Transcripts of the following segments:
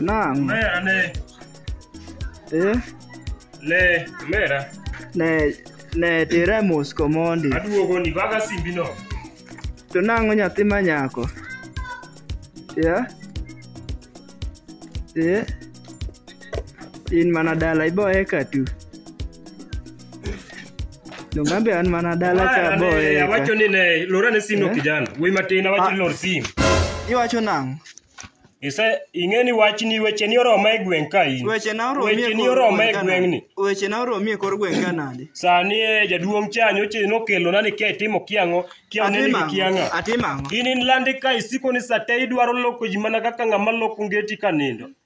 Naam. Mera ne. Eh? Ne, mera. Ne ne tira mos komondi. Aduogo ni baga simbi no. To nang'o nyathi ma nyako? Yeah? Yeah? In mana dala iboye ka tu. Dongambe an mana dala ka Ane, boye. awacho ni ne lor ane sim no Eh? kijana wuoyi matin awacho ni Ah. lor sim Iwacho nang'. ise ing'e ni wachni wecheni oroma e gweng' ka in Weche na oromie wecheni kor oroma e gweng' ka gweng'ni nade? Weche na oromie kor gweng' ka nade? sani e jaduong' cha nyocha nokelona ni kia itimo kiang'o kia oneni Atimo gi ang'o? kiang'a Atimo ang'o? in in landi ka isiko ni sate idwaro loko ji mana kaka ng'ama loko ngeti ka nindo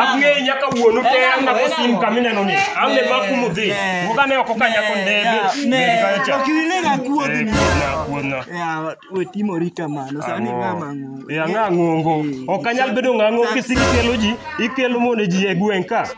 Ang'eyi nyaka wuonu te an nako sim kama ineno ni. An ne maku mudhi. Wuoga ne ok okanya ko ndege. Ndege kayo cha. Ok ilega Eh, kuodhni. kuodna, kuodna. Yawa, we timori kamano. Sani Ang'o? ng'ama ng'ongo. Eh, ang'a ng'ongo. Ok anyal bedo ng'a ng'ongo kisiki kelo ji, ikelo mone ji e gweng' ka.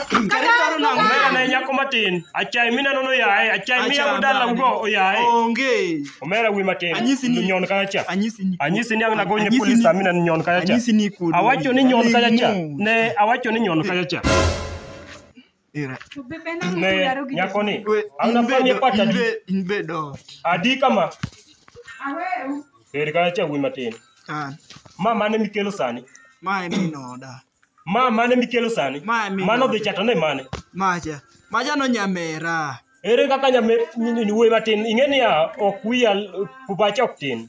Omera ne nyako matin. Achai mineno no yaye, achai miya Acha, udala nani? ugo oyaye. Onge. Omera wi matin. Anyisi ni- Nyon kaya cha. Anyisi ni. Anyisi ni ang'na gonye Anyisi polisi ni- amina ni nyon kaya cha. Anyisi ni kudu. Awacho ni nyon kaya cha. Ling'o. Ne awacho ni nyon kaya cha. Ira. To bebe na Ne, mudaro gi nyako ni. We, Hauna in pande bedo- pata in di. be- in bedo ot. Adi kama. Aweu. Eri ka cha wuoyi matin. Kan. Ma mane mikelo sani? Ma en min oda. Ma mane mikelo sani? Ma en min Mano oda. dhi chato ne mane? Macha. Macha no nyamera. Ere kaka nyame ni wuoyi matin? Ing'e niya ok wiya pacha ok tin.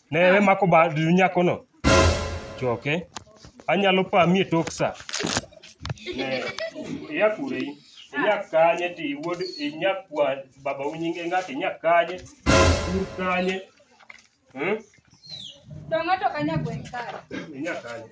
Ne we mako bad nyakono. Choke. Anyalo pami e tok sa. Ne, iya kure in. Inya kanye ti wuod inya kwa baba unyinge ng'at inya kanye. Kur kanye. Hmm? Dongo to kanya gweng' kare. Inya kanye.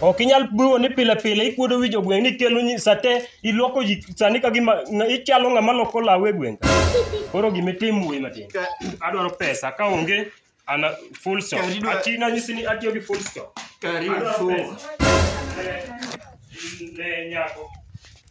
ok inyal biwo ni pile pile ikuodo wi jogweng' ni kelo nyi- sate ilwoko ji sani ka gima na- ichalo ng'ama loko law e gweng' ka. koro gima itim wuoyi matin Ka- adwaro pesa ka onge ana full stop Kari dwa- ati nanyisi ni atiyo gi full stop Karibu. Adwaro pesa. Ne- ne nyako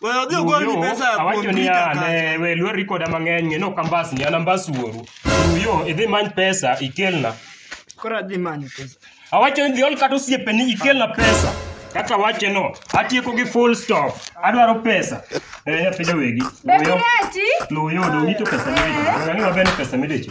Wewe odhi ogol ni pesa ya awacho kuom niya Peter ne kacha. we lweri koda mang'eny ng'e nok ambas ni an ambas wuoru uyo idhi many pesa ikelna Koro adhi manyo pesa. awacho ni dhiol kata osiepeni ikelna pesa kaka wache no atieko gi full stop adwaro pesa eh pidho wegi Be uyo Kireti? luyo dongi to pesa midecho ng'ani maber ni pesa midecho